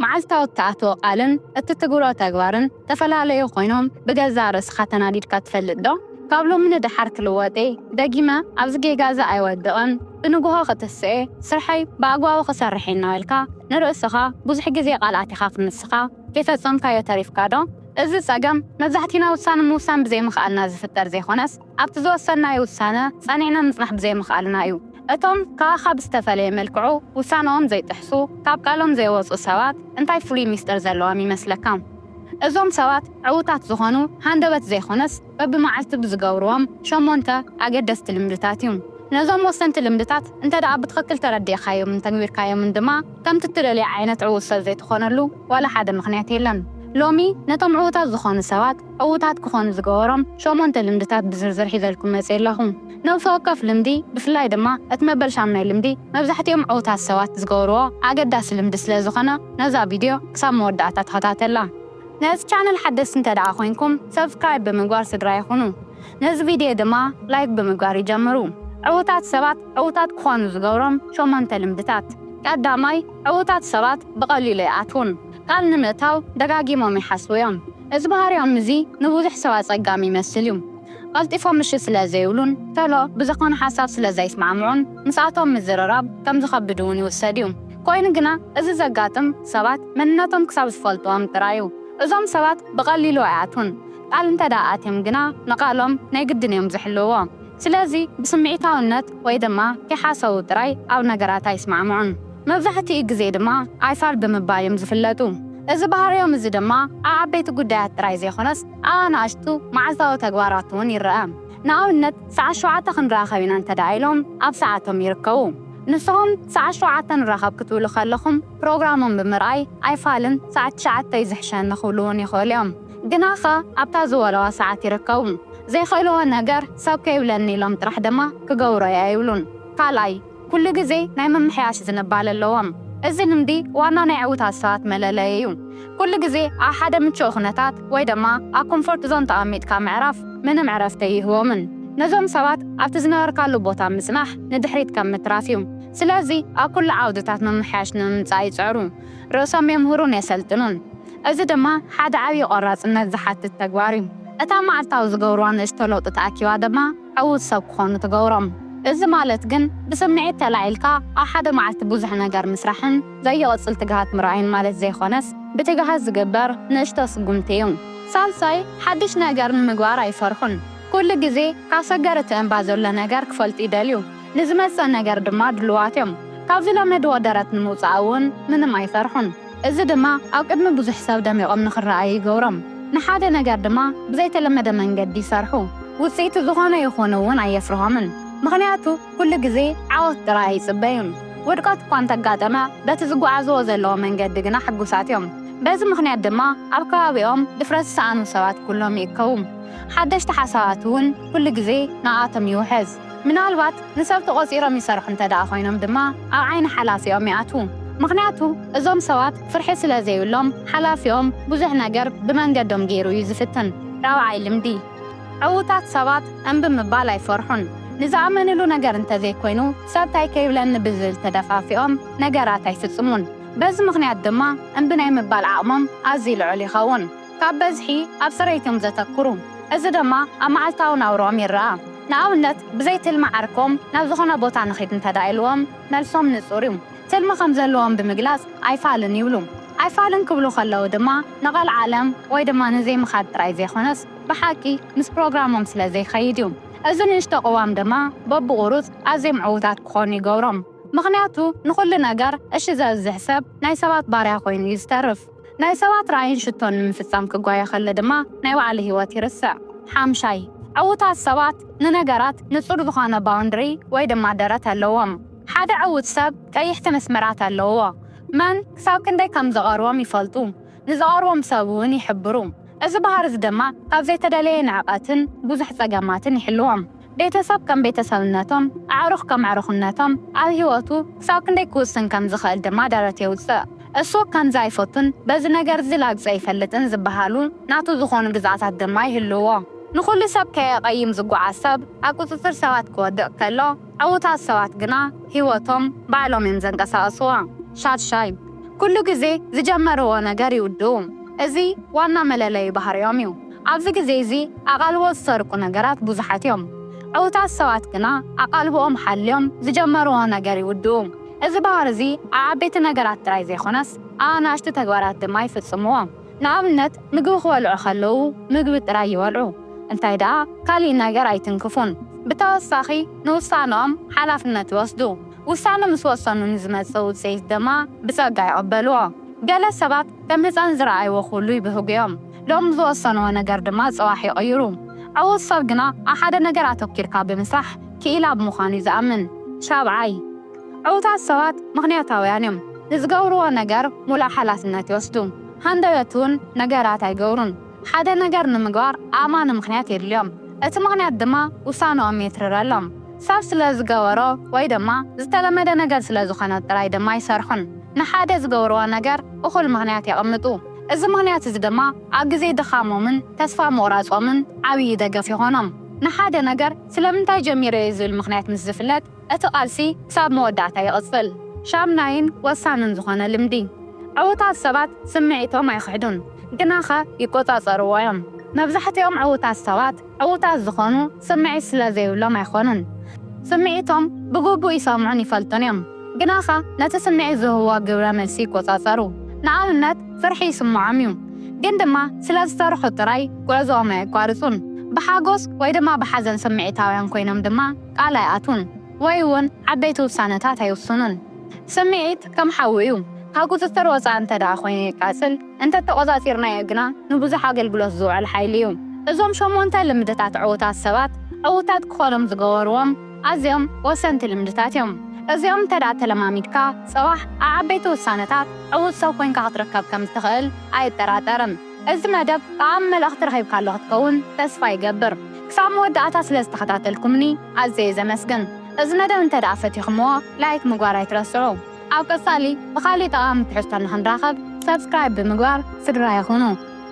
መዓልታዊ እትኣትዎ ቃልን እትትግብሮ ተግባርን ተፈላለዩ ኮይኖም ብገዛእ ርእስኻ ተናዲድካ ትፈልጥ ዶ? ካብ ሎሚ ንደሓር ክልወጥ'የ፣ ደጊመ ኣብዚ ጌጋ'ዚ ኣይወድቕን፣ ብንግሆ ክትስእ'የ፣ ስርሐይ ብኣግባቡ ክሰርሕ'የ እናበልካ ንርእስኻ ብዙሕ ግዜ ቃላት ኢኻ ክንስኻ፣ ከይፈጸምካዮ ተሪፍካ ዶ? እዚ ጸገም መብዛሕቲና ውሳነ ምውሳን ብዘይምኽኣልና ዝፍጠር ዘይኮነስ፣ ኣብቲ ዝወሰንናዮ ውሳነ ጸኒዕና ምጽናሕ ብዘይምኽኣልና እዩ። እቶም ካባኻ ብዝተፈለየ መልክዑ ውሳነኦም ዘይጥሕሱ፣ ካብ ቃሎም ዘይወጹ ሰባት እንታይ ፍሉይ ሚስጥር ዘለዎም ይመስለካ? እዞም ሰባት ዕዉታት ዝኾኑ ሃንደበት ዘይኮነስ በብመዓልቱ ብዝገብርዎም ሸሞንተ ኣገደስቲ ልምድታት እዩ። ነዞም ወሰንቲ ልምድታት እንተድኣ ብትኽክል ተረዲእካዮምን ተግቢርካዮምን ድማ ከምቲ እትደልዮ ዓይነት ዕዉት ሰብ ዘይትኾነሉ ዋላ ሓደ ምኽንያት የለን። ሎሚ ነቶም ዕዉታት ዝኾኑ ሰባት ዕዉታት ክኾኑ ዝገበሮም ሸሞንተ ልምድታት ብዝርዝር ሒዘልኩም መጺኤ ኣለኹ። ነብሲ ወከፍ ልምዲ ብፍላይ ድማ እቲ መበል ሻምናይ ልምዲ መብዛሕቲኦም ዕዉታት ሰባት ዝገብርዎ ኣገዳሲ ልምዲ ስለ ዝኾነ ነዛ ቪድዮ ክሳብ መወዳእታ ተኸታተላ። ነዚ ቻነል ሓደስቲ እንተድኣ ኮይንኩም ሰብስክራይብ ብምግባር ስድራይ ኹኑ። ነዚ ቪድዮ ድማ ላይክ ብምግባር ይጀምሩ። ዕዉታት ሰባት ዕዉታት ክኾኑ ዝገብሮም ሸሞንተ ልምድታት። ቀዳማይ፣ ዕዉታት ሰባት ብቐሊሉ ኣይኣትዉን። ቃል ንምእታው ደጋጊሞም ይሓስቡ እዮም። እዚ ባህሪኦም እዚ ንብዙሕ ሰብ ኣጸጋሚ ይመስል እዩ። ቐልጢፎም እሺ ስለ ዘይብሉን ቶሎ ብዘኾነ ሓሳብ ስለ ዘይስማዕምዑን ምስኣቶም ምዝርራብ ከም ዝኸብድ እውን ይውሰድ እዩ። ኮይኑ ግና እዚ ዘጋጥም ሰባት መንነቶም ክሳብ ዝፈልጥዎም ጥራይ እዩ። እዞም ሰባት ብቐሊሉ ኣይኣትዉን። ቃል እንተድኣ ኣትዮም ግና ንቓሎም ናይ ግድን እዮም ዝሕልውዎ። ስለዚ ብስምዒታውነት ወይ ድማ ኪሓሰዉ ጥራይ ኣብ ነገራት ኣይስማዕምዑን። መብዛሕትኡ ግዜ ድማ ኣይፋል ብምባል እዮም ዝፍለጡ። እዚ ባህርዮም እዚ ድማ ኣብ ዓበይቲ ጉዳያት ጥራይ ዘይኮነስ ኣብ ኣናእሽቱ መዓልታዊ ተግባራት እውን ይረኣ። ንኣብነት ሰዓት ሸውዓተ ክንራኸብ ኢና እንተድኣ ኢሎም ኣብ ሰዓቶም ይርከቡ። ንስኹም ሰዓት ሸውዓተ ንራኸብ ክትብሉ ከለኹም ፕሮግራሞም ብምርኣይ ኣይፋልን ሰዓት ትሽዓተ እዩ ዝሕሸኒ ክብሉ እውን ይኽእሉ እዮም። ግናኸ ኣብታ ዝበልዋ ሰዓት ይርከቡ። ዘይክእልዎ ነገር ሰብ ከይብለኒ ኢሎም ጥራሕ ድማ ክገብሮ'የ ኣይብሉን። ካልኣይ፣ ኩሉ ግዜ ናይ ምምሕያሽ ዝንባለ ኣለዎም። እዚ ልምዲ ዋና ናይ ዕዉታት ሰባት መለለይ'ዩ። ኩሉ ግዜ ኣብ ሓደ ምቹእ ኩነታት ወይ ድማ ኣብ ኮምፎርት ዞን ተቐሚጥካ ምዕራፍ ምንም ዕረፍቲ ኣይህቦምን። ነዞም ሰባት ኣብቲ ዝነበርካሉ ቦታ ምጽናሕ ንድሕሪት ከም ምትራፍ'ዩ። ስለዚ ኣብ ኩሉ ዓውድታት ምምሕያሽ ንምምጻእ ይጽዕሩ። ርእሶም የምህሩን የሰልጥኑን። እዚ ድማ ሓደ ዓብዪ ቆራፅነት ዝሓትት ተግባር እዩ። እታ መዓልታዊ ዝገብርዋ ንእሽቶ ለውጢ ተኣኪባ ድማ ዕዉት ሰብ ክኾኑ ትገብሮም። እዚ ማለት ግን ብስምዒት ተላዒልካ ኣብ ሓደ መዓልቲ ብዙሕ ነገር ምስራሕን ዘይቕፅል ትግሃት ምርኣይን ማለት ዘይኾነስ ብትግሃት ዝግበር ንእሽቶ ስጉምቲ እዩ። ሳልሳይ፣ ሓዱሽ ነገር ንምግባር ኣይፈርሑን። ኩሉ ግዜ ካብ ሰገር እቲ እምባ ዘሎ ነገር ክፈልጡ ይደልዩ። ንዝመፅእ ነገር ድማ ድሉዋት እዮም። ካብ ዝለመድዎ ደረት ንምውፃእ እውን ምንም ኣይፈርሑን። እዚ ድማ ኣብ ቅድሚ ብዙሕ ሰብ ደሚቖም ንኽረኣዩ ይገብሮም። ንሓደ ነገር ድማ ብዘይተለመደ መንገዲ ይሰርሑ። ውጽኢቱ ዝኾነ ይኹን እውን ኣየፍርሆምን፣ ምኽንያቱ ኩሉ ግዜ ዓወት ጥራይ ኣይጽበዩን። ውድቀት እኳ እንተ ኣጋጠመ፣ በቲ ዝጓዓዝዎ ዘለዉ መንገዲ ግና ሕጉሳት እዮም። በዚ ምኽንያት ድማ ኣብ ከባቢኦም ድፍረት ዝሰኣኑ ሰባት ኩሎም ይእከቡ፣ ሓደሽቲ ሓሳባት እውን ኩሉ ግዜ ንኣኣቶም ይውሕዝ። ምናልባት ንሰብ ተቖጺሮም ይሰርሑ እንተድኣ ኮይኖም ድማ ኣብ ዓይኒ ሓላፊኦም ይኣትዉ። ምኽንያቱ እዞም ሰባት ፍርሒ ስለ ዘይብሎም ሓላፊኦም ብዙሕ ነገር ብመንገዶም ገይሩ እዩ ዝፍትን። ራብዓይ ልምዲ፣ ዕዉታት ሰባት እምቢ ምባል ኣይፈርሑን። ንዝኣመንሉ ነገር እንተዘይኮይኑ ሰብ ታይ ከይብለኒ ብዝብል ተደፋፊኦም ነገራት ኣይፍጽሙን። በዚ ምኽንያት ድማ እምቢ ናይ ምባል ዓቕሞም ኣዝዩ ልዑል ይኸውን። ካብ በዝሒ ኣብ ጽሬት'ዮም ዘተኩሩ፣ እዚ ደማ ኣብ መዓልታዊ ናብርኦም ይርኣ። ንኣብነት ብዘይ ትልሚ ዓርኮም ናብ ዝኾነ ቦታ ንኺድ እንተድኣ ኢልዎም መልሶም ንጹር'ዩ። ትልሚ ከም ዘለዎም ብምግላጽ ኣይፋልን ይብሉ። ኣይፋልን ክብሉ ከለዉ ድማ ንቐልዓለም ወይ ድማ ንዘይምኻድ ጥራይ ዘይኮነስ ብሓቂ ምስ ፕሮግራሞም ስለ ዘይከይድ'ዩ። እዚ ንእሽቶ ቅዋም ደማ በብቑሩጽ ኣዝዮም ዕዉታት ክኾኑ ይገብሮም። ምኽንያቱ ንኹሉ ነገር እሺ ዘብዝሕ ሰብ ናይ ሰባት ባርያ ኮይኑ'ዩ ዝተርፍ። ናይ ሰባት ራእይን ሽቶን ንምፍጻም ክጓየ ከሎ ድማ ናይ ባዕሉ ህይወት ይርስዕ። ሓምሻይ፣ ዕዉታት ሰባት ንነገራት ንጹር ዝኾነ ባውንድሪ ወይ ድማ ደረት ኣለዎም። ሓደ ዕዉት ሰብ ቀይሕቲ መስመራት ኣለውዎ። መን ክሳብ ክንደይ ከም ዝቐርቦም ይፈልጡ፣ ንዝቐርቦም ሰብ እውን ይሕብሩ። እዚ ባህሪዚ ድማ ካብ ዘይተደለየ ንዕቀትን ብዙሕ ጸገማትን ይሕልዎም። ቤተሰብ ከም ቤተሰብነቶም፣ ኣዕሩኽ ከም ኣዕሩኽነቶም ኣብ ህይወቱ ክሳብ ክንደይ ክውስን ከም ዝኽእል ድማ ደረት የውጽእ። እሱ ከምዚ ኣይፈቱን፣ በዚ ነገር'ዚ ላግጺ ኣይፈልጥን ዝበሃሉ ናቱ ዝኾኑ ግዝኣታት ድማ ይህልውዎ። ንኹሉ ሰብ ከየቐይም ዝጓዓዝ ሰብ ኣብ ቁጽጽር ሰባት ክወድቕ ከሎ፣ ዕዉታት ሰባት ግና ህይወቶም ባዕሎም እዮም ዘንቀሳቕስዋ። ሻድሻይ፣ ኩሉ ግዜ ዝጀመርዎ ነገር ይውድኡ። እዚ ዋና መለለዩ ባህሪኦም እዩ። ኣብዚ ግዜ እዚ ኣቓልቦ ዝሰርቁ ነገራት ብዙሓት እዮም። ዕዉታት ሰባት ግና ኣቓልቦኦም ሓልዮም ዝጀመርዎ ነገር ይውድኡ። እዚ ባህሪ እዚ ኣብ ዓበይቲ ነገራት ጥራይ ዘይኰነስ ኣብ ኣናእሽቱ ተግባራት ድማ ይፍጽምዎ። ንኣብነት ምግቢ ክበልዑ ከለዉ ምግቢ ጥራይ ይበልዑ፣ እንታይ ደኣ ካልእ ነገር ኣይትንክፉን። ብተወሳኺ ንውሳነኦም ሓላፍነት ይወስዱ፣ ውሳነ ምስ ወሰኑ ንዝመጽእ ውጽኢት ድማ ብጸጋ ይቕበልዎ። ገለ ሰባት ከም ህጻን ዝረኣይዎ ኵሉ ይብህጉ እዮም። ሎሚ ዝወሰንዎ ነገር ድማ ፅባሕ ይቕይሩ። ዕዉት ሰብ ግና ኣብ ሓደ ነገር ኣተኲርካ ብምስራሕ ክኢላ ብምዃን እዩ ዝኣምን። ሻብዓይ፣ ዕዉታት ሰባት ምኽንያታውያን እዮም። ንዝገብርዎ ነገር ሙሉእ ሓላፍነት ይወስዱ። ሃንደበት እውን ነገራት ኣይገብሩን። ሓደ ነገር ንምግባር ኣእማኒ ምኽንያት የድልዮም። እቲ ምኽንያት ድማ ውሳንኦም የትርረሎም። ሰብ ስለ ዝገበሮ ወይ ድማ ዝተለመደ ነገር ስለ ዝኾነ ጥራይ ድማ ኣይሰርሑን። ንሓደ ዝገብርዎ ነገር እኹል ምኽንያት የቐምጡ። እዚ ምኽንያት እዚ ድማ ኣብ ግዜ ድኻሞምን ተስፋ ምቑራጾምን ዓብዪ ደገፍ ይኾኖም። ንሓደ ነገር ስለምንታይ ጀሚረዮ ዝብል ምኽንያት ምስ ዝፍለጥ እቲ ቃልሲ ክሳብ መወዳእታ ይቕጽል። ሻምናይን ወሳንን ዝኾነ ልምዲ። ዕዉታት ሰባት ስምዒቶም ኣይኽሕዱን፣ ግናኸ ይቆጻጸርዎ እዮም። መብዛሕትኦም ዕዉታት ሰባት ዕዉታት ዝኾኑ ስምዒት ስለ ዘይብሎም ኣይኮኑን። ስምዒቶም ብግቡእ ይሰምዑን ይፈልጡን እዮም፣ ግናኸ ነቲ ስምዒት ዝህብዎ ግብረ መልሲ ይቆጻጸሩ። ንኣብነት ፍርሒ ይስምዖም እዩ፣ ግን ድማ ስለ ዝፈርሑ ጥራይ ጉዕዞኦም ኣየቋርጹን። ብሓጎስ ወይ ድማ ብሓዘን ስምዒታውያን ኮይኖም ድማ ቃል ኣይኣትዉን ወይ እውን ዓበይቲ ውሳነታት ኣይውስኑን። ስምዒት ከም ሓዊ እዩ፣ ካብ ቁጽጽር ወጻኢ እንተድኣ ኮይኑ የቃጽል። እንተተቖጻጺርናዮ ግና ንብዙሕ ኣገልግሎት ዝውዕል ሓይሊ እዩ። እዞም ሸሞንተ ልምድታት ዕዉታት ሰባት ዕዉታት ክኾኖም ዝገበርዎም ኣዝዮም ወሰንቲ ልምድታት እዮም። እዚኦም እንተድኣ ተለማሚድካ ጽባሕ ኣብ ዓበይቲ ውሳነታት ዕዉት ሰብ ኮይንካ ክትርከብ ከም እትኽእል ኣይጠራጠርን። እዚ መደብ ጠቓሚ መልእኽቲ ረኺብካሉ ክትከውን ተስፋ ይገብር። ክሳብ መወዳእታ ስለ ዝተኸታተልኩምኒ ኣዝየ ዘመስግን። እዚ መደብ እንተድኣ ፈቲኹምዎ ላይክ ምግባር ኣይትረስዑ። ኣብ ቀጻሊ ብኻሊእ ጠቓሚ ትሕዝቶ ንኽንራኸብ ሳብስክራይብ ብምግባር ስድራይ ኹኑ።